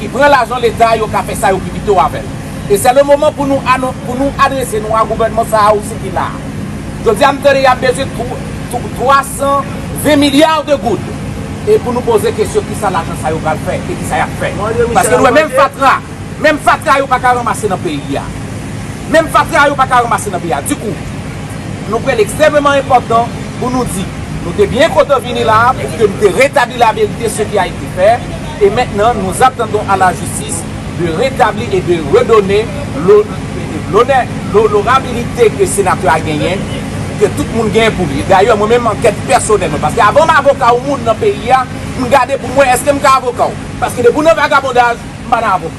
ki pran lajan leta yo ka fè sa yo pi pito avè l. E sè le moman pou nou anon, pou nou adrese nou a gouvènman sa a osi ki la a. Jodi a m tande y ap bezwen tro, tro, 320 milliards de goud. E pou nou poze kesyon ki sa lajan sa yo pral fè e ki sa y ap fè. Paske nou wè menm fatra, menm fatra yo pa ka ranmase nan peyi a. Menm fatra yo pa ka ranmase nan peyi a. Dikou, nou kwè l ekstrèmeman enpòtan pou nou di, nou te byen kontan vini la a pou ke nou te retabli la verite, ce qui a été fait. E mentnan nous attendons à la justice de retabli et de redonne l'honneur, l'honorabilite ke senatè a genyen, ke tout moun genyen pou li. Dayè mwen menm ankèt pèsonèl mwen, paske avan m avoka ou moun nan peyi a, m gade pou m wè eske m ka avoka w. Paske depi w nan vagabondaj, m pa nan avoka.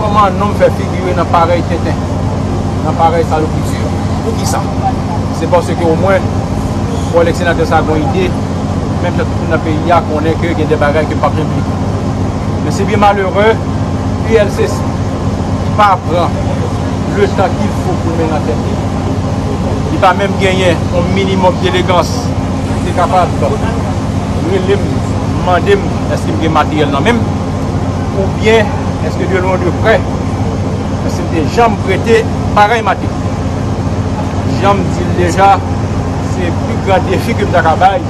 Kòman nonm fè figire nan parèy tenten, nan parèy salopriti yo? Poukisa? Se paske omwen kòlèg senatè sa a gen yon ide, menm jan tout moun nan peyi a konnen ke gen de bagay ke m pa p janm bliye. Men se byen malere, ULCC ki pa pran le tan ki l fo pou l mennen ankèt li, li pa menm genyen yon minimòm delegans pou l te kapab rele m, mande m èske m gen materyèl nan men m. ou byen eske de lwen ou de prè eske m te janm prete parèy mate. Jan m di l deja, se pi gran defi ke m ta ka bay,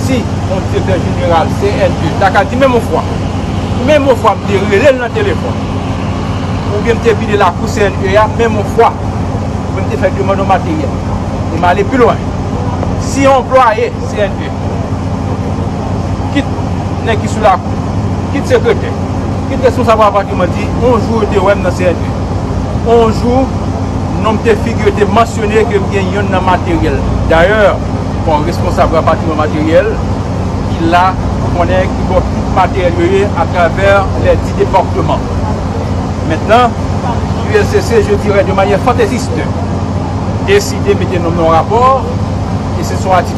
si yon direktè jeneral CNE ta ka di menm yon fwa, menm yon fwa m te rele l nan telefòn, ou byen m te vide lakou CNE a menm yon fwa, pou m te fè demann yon materyèl, e m ale pi lwen, si yon anplwaye CNE Kit nèg ki sou lakou, kit sekretè, kit responsab rapatriman di, on jou yo te wè m nan CNV. On jou, non m te figi yo te mansyone ke m gen yonn nan materyèl. Dayè, kon responsab rapatriman materyèl ki la pou konnen ki bò tout materyèl yo ye atravè lè di departeman. Mentnan, ULCC, je dirè de manyè fanteziste, deside mete non m nan on rapò, e se son ati.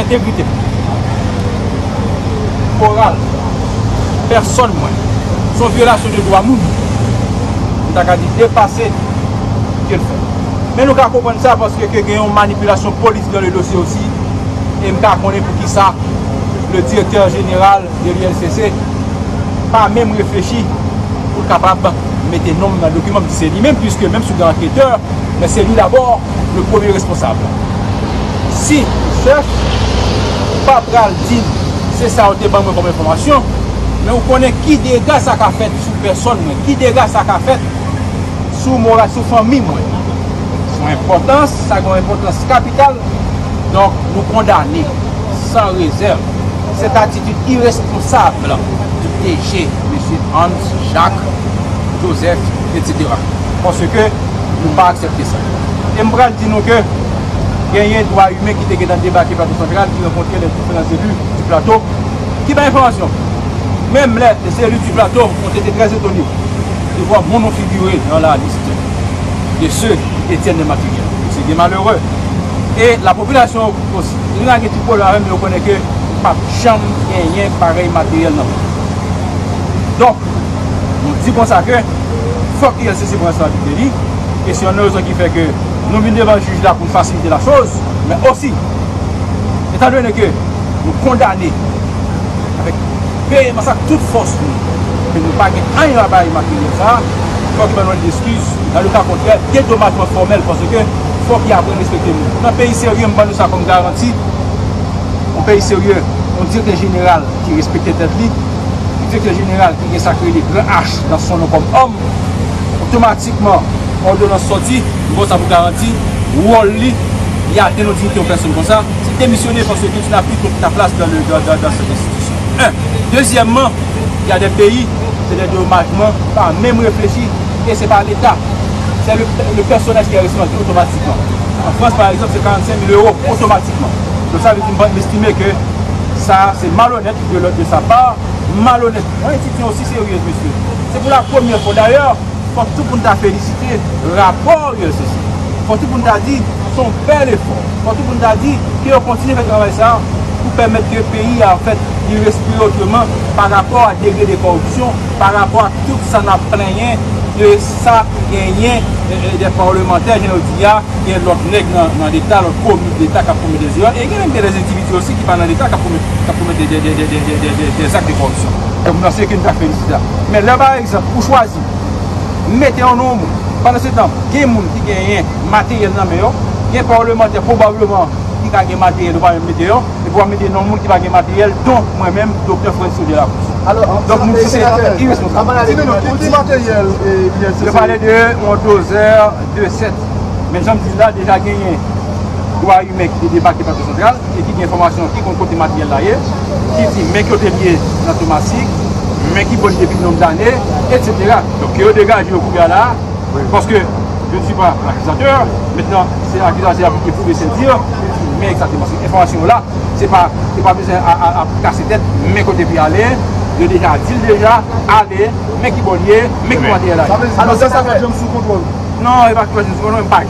entegrite moral pèsòn mwen, se yon vyolasyon de dwa moun, m ta ka di depase ke l fè. Men nou ka konprann sa paske ke gen yon manipilasyon politik dan le dosye osi e m ka konnen poukisa le direktè jeneral de l'ULCC pa menm reflechi pou l kapab mete non m nan dokiman m di se li menm puiske menm si w gen anketè men se li dabò le premye responsab. Si ou chèf, ou pa pral di m se sa ou te ban mwen kòm enfòmasyon, men ou konnen ki dega sa ka fèt sou pèsòn mwen, ki dega sa ka fèt sou moral, sou fanmi mwen. Son enpòtans, sa gen yon enpòtans kapital, donk nou kondane san rezèv sèt atitid iresponsab ki DG Mesye Hans Jacques Joseph etc. Paske nou pa aksepte sa. E m pral di nou ke genyen dwa imen ki te gentan debake Plato Santral ki rankontre lè diferan zelu di Plato ki bay enfòmasyon. Menm lè zelu di Plato on te te trè etone de vwa moun on figure nan la liste de ceux ki detiennent les matériels de ces biens malheureux e la population osi. Li lage ti pwolèm avè m men yo konnen ke p ap janm genyen parèy materyèl nan peyi sa. Donk, nou di konsa ke fòk ULCC pran responsablite li. E se yon nan rezon ki fè ke nou vin devan jij la pou n fasilite la choz, men osi, etan done ke nou kondane avèk veyemans ak tout fòs nou ke nou pa gen anyen a bay materyèl sa a, fòk yo ban nou lèt deskiz, nan le ka kontrè, dedomajman fòmèl paske fòk yo aprann respekte nou. Nan peyi serye, m ban nou sa kòm garanti, yon peyi serye, yon direktè jeneral ki respekte tèt li, yon direktè jeneral ki gen sa ki rele gran H nan son nou kòm òm, otomatikman, Otomatikman, òdonans sòti, m ba w sa pou garanti, wòl li, li atenn yon diyite yon pèsonn konsa, se demisyone paske tout yon Afrik gen tout laplas dan le dan dan sèt enstitisyon. 1. Dezyèmman, y a dè peyi, se dè domajman, pa menm reflechi e se pa Leta, sè le le pèsonèj ki è responsab otomatikman. An Frans pa egzanp se 45 mil ewo otomatikman. Donk sa vle di m pa, m estime ke sa se malonèt de lòt de sa pa, malonèt. Mwen enstiti an osi seryez mesye. Se pou la premyè fwa dayè. Fòk tou pou n ta felisite rapò ULCC. Fòk tou pou n ta di se yon bèl efò. Fòk tou pou n ta di ke yo kontinye fè travay sa a pou pèmèt ke peyi a anfèt li respire otreman pa rapò a degre de kòripsyon, pa rapò ak tout sa n ap plenyen de sa ki genyen dè pawlemantè jan yo di a, gen lòt nèg nan leta, lòt komik leta k ap komèt dè zerè e gen menm gen dè endividi osi ki pa nan leta k ap komèt dè zak de kòripsyon. Donk nan se ke n ta felisite a. Men lè pa egzanp ou chwazi mete yon non moun, pandan se tan gen moun ki genyen materyèl nan men yo, gen parlemantè pwobableman ki ka gen materyèl yo pa menm mete yo, epi wap mete non moun ki pa gen materyèl donk mwen menm Doktè Frantz Claude Delacroix. Donk nou se senatè iresponsab. Ki materyèl INCC? Yo pale de yon dozè, de sèt. Men janm di la deja genyen dwa imen ki te debake Plato Santral. e ki gen enfòmasyon, ki konn kote materyèl la ye, ki di men kote l ye nan Tomasik, men ki bò l ye depi nonb dane, etsetera. Donk ke yo degaje yo kounye a la a, paske je ne suis pas l'accusateur, mentnan se akizatè a pou l te pwouve sèdi yo, pou l di men egzakteman, se enfòmasyon yo la, se pa, yo pa bezwen ap kase tèt, men kote pou y ale, yo deja di l deja, ale, men ki bò l ye, men ki materyèl la ye. Sa vle di, Baky pa janm sou kontwòl ou? Non, Baky pa janm sou kontwòl mwen, m pa.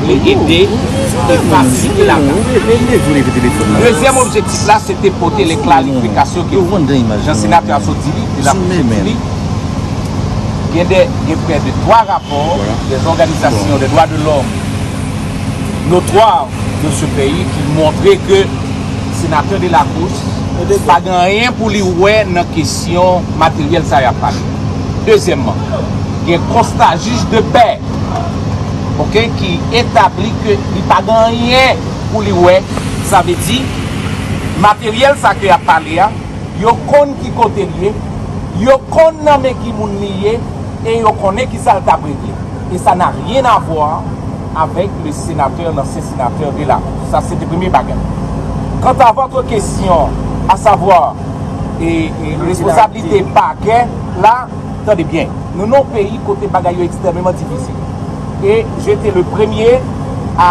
vle ede e fasilite latansyon. Dezyèm objektif la se te pote lekla likifikasyon ki fèt. Jan senatè a sot di li, e lap fèt di li, gen de, gen prè de 3 rapò de zòganizasyon de dwa de lòm notwa de se peyi ki montre ke senatè de la Cruz pa gen anyen pou li wè nan kesyon materyèl sa yap pale. Dezyèmman, gen konsta jij de pè. ok ki etabli ke li pa gen anyen pou li wè sa vle di materyèl sa ke yap pale a yo konn ki kote li ye yo konn nan men ki moun li ye e yo konnen ki sa l tap regle e sa na ryen avwa avèk le senatè lansyen senatè Delameau sa se te premye bagay kanta vòtre kesyon a savwa e resposablite pakè la. Tande byen, nou nan yon peyi kote bagay yo ekstrèmeman difisil. E je te le premye a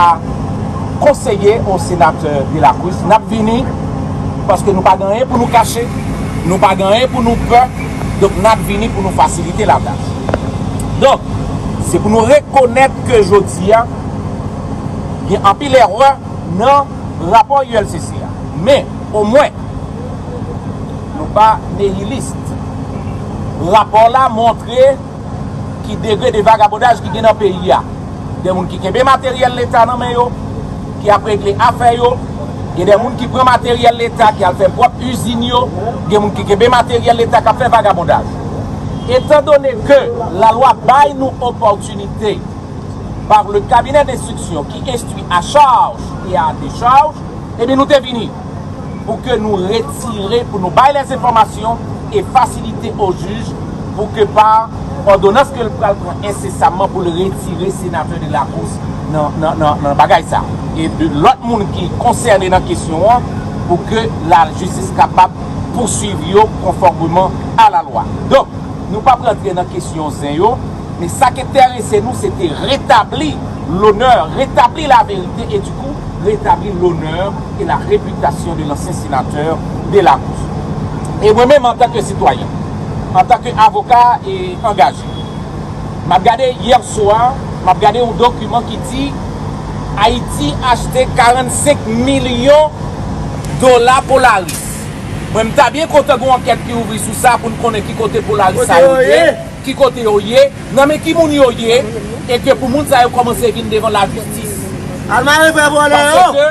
konseye o senatè De La Cruz, n ap vini, paske nou pa gen anyen pou nou kache, nou pa gen anyen pou nou pè, donk n ap vini pou nou fasilite latach. Donk, se pou nou rekonèt ke jodi a, gen anpil erè nan rapò ULCC a. Men, omwen. Nou pa nihilist. Rapò la montre ki degre de vagabondaj ki gen nan peyi a. Gen moun ki kenbe materyèl leta nan men yo, ki ap regle afè yo. Gen de moun ki pran materyèl leta ki al fè pwòp izin yo. Gen moun ki kenbe materyèl leta k ap fè vagabondaj. Etan done ke lalwa bay nou opòtinite par le kabinè denstriksyon ki enstwi a charj e a decharj, ebyen nou te vini. pou ke nou retire, pou nou bay lè enfòmasyon e fasilite o jij pou ke pa òdonans ke l pral pran ensesamman pou l retire senatè de la kous nan bagay sa. E lòt moun ki konsène nan kesyon an pou ke la jistis kapab pousuiv yo konfòmeman a la lwa. Donk, nou pap rantre nan kesyon zen yo, men sa k enterese nou se te retabli lonè, retabli laverite e. pou retabli lonè e la repitasyon de lansyen senatè Delacruz. E mwen menm antanke sitwayen, antanke avoka e angaje, m ap gade yè swa, m ap gade yon dokiman ki di Ayiti achte 45 milyon dola Polaris. Mwen m ta byen kontan gen yon ankèt ki ouvri sou sa pou n konnen ki kote Polaris sa yo ye, ki kote yo ye. Nan men ki moun yo ye e ke pou moun sa yo komanse vin devan la jistis. Pase ke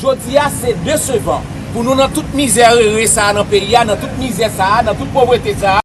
jodi a se desevan pou nou nan tout mizè rere sa nan peyi a, nan tout mizè sa, nan tout povrete sa.